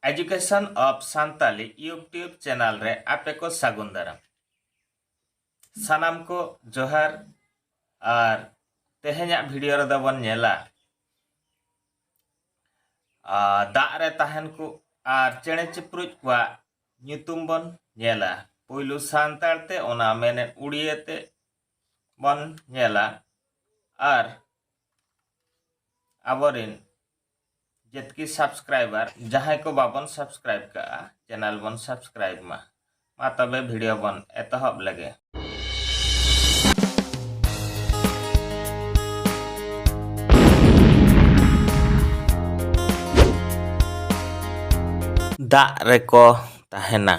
education of Santali YouTube channel ᱨᱮ ᱟᱯᱮ ᱠᱚ ᱥᱟᱹᱜᱩᱱ ᱫᱟᱨᱟᱢ ᱥᱟᱱᱟᱢ ᱠᱚ ᱡᱚᱦᱟᱨ ᱟᱨ ᱛᱮᱦᱮᱧᱟᱜ ᱵᱷᱤᱰᱤᱭᱳ ᱨᱮᱫᱚ ᱵᱚᱱ ᱧᱮᱞᱟ ᱫᱟᱜ ᱨᱮ ᱛᱟᱦᱮᱱ ᱠᱚ ᱟᱨ ᱪᱮᱬᱮ ᱪᱤᱯᱨᱩᱡ ᱠᱚᱣᱟᱜ ᱧᱩᱛᱩᱢ ᱵᱚᱱ ᱧᱮᱞᱟ ᱯᱩᱭᱞᱩ ᱥᱟᱱᱛᱟᱲ ᱛᱮ ᱚᱱᱟ ᱢᱮᱱᱮᱫ ᱩᱲᱤᱭᱟᱹ ᱛᱮ ᱵᱚᱱ ᱧᱮᱞᱟ ᱟᱨ ᱟᱵᱚᱨᱮᱱ ᱡᱮᱛᱠᱤ ᱥᱟᱵᱥᱠᱨᱟᱭᱵᱟᱨ ᱡᱟᱦᱟᱸᱭ ᱠᱚ ᱵᱟᱵᱚᱱ ᱥᱟᱵᱥᱠᱨᱟᱭᱤᱵ ᱠᱟᱜᱼᱟ ᱪᱮᱱᱮᱞ ᱵᱚᱱ ᱥᱟᱵᱥᱠᱨᱟᱭᱤᱵ ᱢᱟ ᱢᱟ ᱛᱚᱵᱮ ᱵᱷᱤᱰᱤᱭᱳ ᱵᱚᱱ ᱮᱛᱚᱦᱚᱵ ᱞᱮᱜᱮ ᱫᱟᱜ ᱨᱮᱠᱚ ᱛᱟᱦᱮᱱᱟ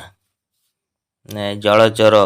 ᱡᱚᱲᱚ ᱡᱚᱨᱚ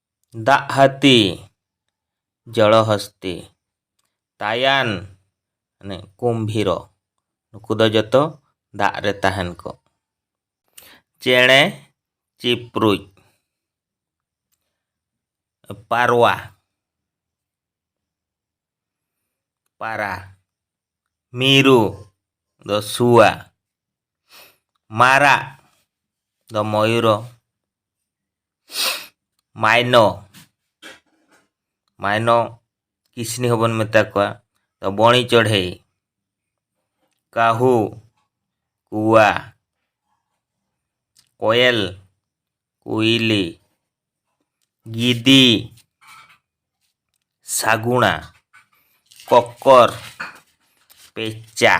ᱫᱟᱜ ᱦᱟᱹᱛᱤ ᱡᱚᱞᱚ ᱦᱚᱥᱛᱤ ᱛᱟᱭᱟᱱ ᱢᱟᱱᱮ ᱠᱩᱢᱵᱷᱤᱨᱚ ᱱᱩᱠᱩ ᱫᱚ ᱡᱚᱛᱚ ᱫᱟᱜ ᱨᱮ ᱛᱟᱦᱮᱱ ᱠᱚ ᱪᱮᱬᱮ ᱪᱤᱯᱨᱩᱡ ᱯᱟᱨᱣᱟ ᱯᱟᱨᱟ ᱢᱤᱨᱩ ᱫᱚ ᱥᱩᱣᱟ ᱢᱟᱨᱟᱜ ᱫᱚ ᱢᱚᱭᱩᱨᱚ ᱢᱟᱭᱱᱚ ᱢᱟᱭᱱᱚ ᱠᱤᱥᱱᱤ ᱦᱚᱸᱵᱚᱱ ᱢᱮᱛᱟ ᱠᱚᱣᱟ ᱛᱚ ᱵᱚᱬᱤ ᱪᱚᱲᱦᱮ ᱠᱟᱹᱦᱩ ᱠᱩᱣᱟ ᱠᱚᱭᱮᱞ ᱠᱩᱭᱞᱤ ᱜᱤᱫᱤ ᱥᱟᱜᱩᱬᱟ ᱠᱚᱠᱚᱨ ᱯᱮᱪᱟ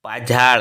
ᱯᱟᱡᱷᱟᱲ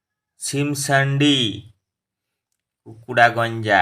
ᱥᱤᱢᱥᱟᱱᱰᱤ ᱠᱩᱠᱩᱰᱟᱜᱚᱧᱡᱟ